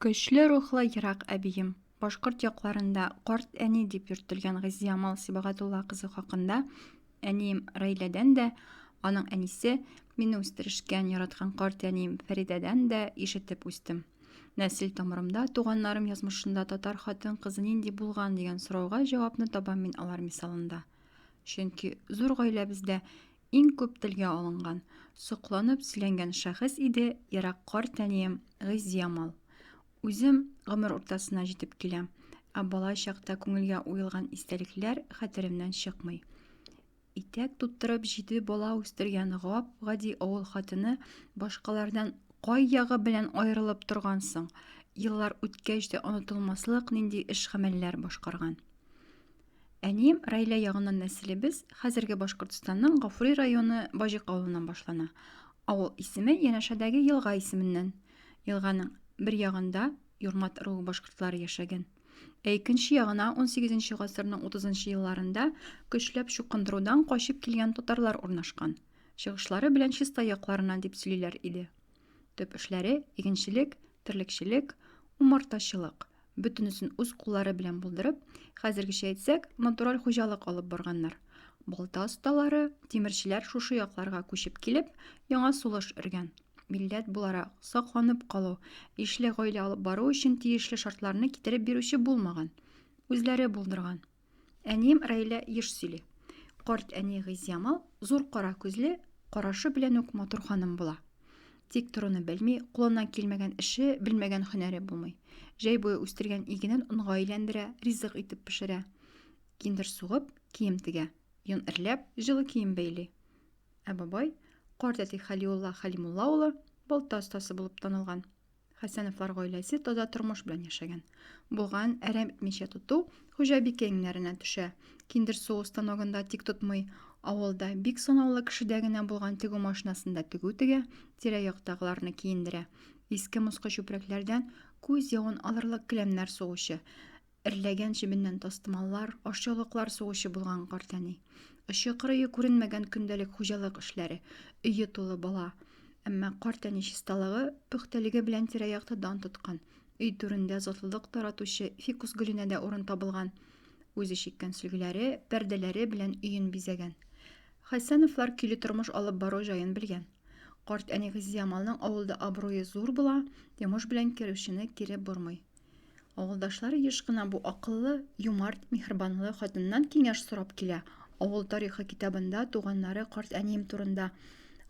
Көчле рухлы ерак әбием, башкорт якларында карт әни дип йөртелгән Гыйззиямал Сибагатулла кызы хакында, әнием Раиләдән дә, аның әнисе, мине үстерешкән, яраткан карт әнием Фәридәдән дә ишетеп үстем. Нәсел тамырымда, туганнарым язмышында татар хатын-кызы нинди булган дигән сорауга җавапны табам мин алар мисалында. Чөнки зур гаиләбездә Иң күп телгә алынган, сокланып сөйләнгән шәхес иде ерак картәнием Гыйззиямал. Үзем гомер уртасына җитеп киләм, ә бала чакта күңелгә уелган истәлекләр хәтеремнән чыкмый. Итәк туттырып җиде бала үстергән гап-гади авыл хатыны башкалардан кай ягы белән аерылып торган соң, еллар үткәч тә онытылмаслык нинди эш-гамәлләр башкарган. Әнием Раилә ягыннан нәселебез хәзерге Башкортстанның Гафури районы Баҗик авылыннан башлана. Авыл исеме янәшәдәге елга исеменнән. Елганың бер ягында Юрмат ыруы башкортлары яшәгән. Ә икенче ягына унсигез нче гасырның утызынчы елларында көчләп чукындырудан качып килгән татарлар урнашкан. Чыгышлары белән Чистай якларыннан дип сөйлиләр иде. Төп эшләре, игенчелек, терлекчелек, умартачылык. Бөтенесен үз куллары белән булдырып, хәзергечә әйтсәк, натураль хуҗалык алып барганнар. Балта осталары, тимерчеләр шушы якларга күчеп килеп, яңа сулыш өргән. Милләт буларак, сакланып калу, ишле гаилә алып бару өчен тиешле шартларны китереп бирүче булмаган. Үзләре булдырган. Әнием Рәйлә еш сөйли. Карт әни Гыйзямал зур кара күзле, карашы белән үк матур ханым була. Тик торуны белми, кулыннан килмәгән эше, белмәгән һөнәре булмый. Җәй буе үстергән игенен онга әйләндерә, ризык итеп пешерә. Киндер сугып, кием тегә. Йон эрләп, җылы кием бәйли. Ә бабай, карт әти Хәлиулла Хәлимулла улы, балта остасы булып танылган. Хәсәновлар гаиләсе таза тормыш белән яшәгән. Булган әрәм итмичә тоту хуҗабикә иңнәренә төшә. Киндер суы станогында тик тотмый, авылда бик санаулы кешедә генә булган тегү машинасында тегү тегә, тирә-яктагыларны киендерә. Иске-москы чүпрәкләрдән күз явын алырлык келәмнәр сугучы, Эрләгән чебеннән тастымаллар, ашъяулыклар сугучы булган картәни. Очы-кырые күренмәгән көндәлек хуҗалык эшләре, өе тулы бала. Әмма картәни чисталыгы, пөхтәлеге белән тирә-якта дан тоткан. Өй түрендә затлылык таратучы фикус гөленә дә урын табылган. Үзе чиккән сөлгеләре, пәрдәләре белән өен бизәгән. Хәсәновлар көйле тормыш алып бару җаен белгән. Карт әни Газиямалның авылда абруе зур була, йомыш белән керүчене кире бормый. Авылдашлар еш кына бу акыллы, юмарт, миһербанлы хатыннан киңәш сорап килә. Авыл тарихы китабында туганнары карт әнием турында,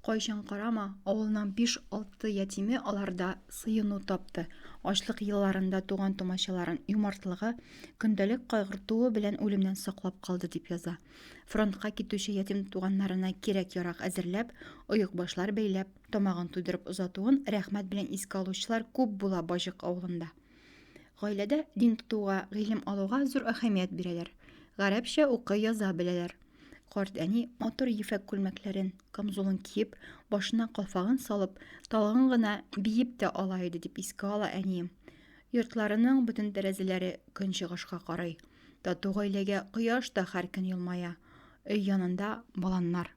Кайчан карама, авылның биш-алты ятиме аларда сыену тапты. Ачлык елларында туган-тумачаларын юмартлыгы, көндәлек кайгыртуы белән үлемнән саклап калды, дип яза. Фронтка китүче ятим туганнарына кирәк-ярак әзерләп, оекбашлар бәйләп, Тамагын туйдырып озатуын рәхмәт белән искә алучылар күп була Баҗык авылында. Гаиләдә дин тотуга, гыйлем алуга зур әһәмият бирәләр. Гарәпчә укый яза беләләр. Карт әни матур ефәк күлмәкләрен, камзулын киеп, башына калфагын салып, талгын гына биеп тә ала иде, дип искә ала әнием. Йортларының бөтен тәрәзәләре көнчыгышка карый. Тату гаиләгә кояш та һәр көн елмая. Өй янында баланнар.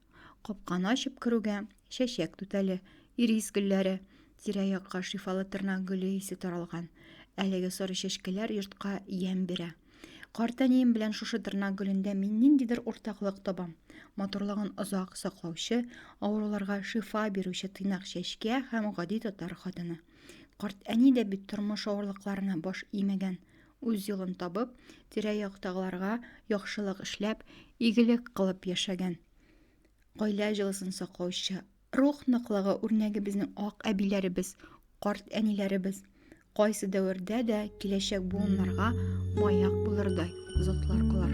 Капканы ачып керүгә, чәчәк түтәле, ирис гөлләре, тирә-якка шифалы тырнак гөле исе таралган. Әлеге соры чәчкәләр йортка ямь бирә. Картәнием белән шушы тырнак гөлендә мин ниндидер уртаклык табам. Матурлыгын озак саклаучы, авыруларга шифа бирүче тыйнак чәчкә һәм гади татар хатыны. Карт әни дә бит тормыш авырлыкларына баш имәгән. Үз юлын табып, тирә-яктагыларга яхшылык эшләп, игелек кылып яшәгән. Гаилә җылысын саклаучы, рух ныклыгы үрнәге безнең ак әбиләребез, карт әниләребез кайсы дәвердә дә киләчәк буыннарга маяк булырдай затлар алар.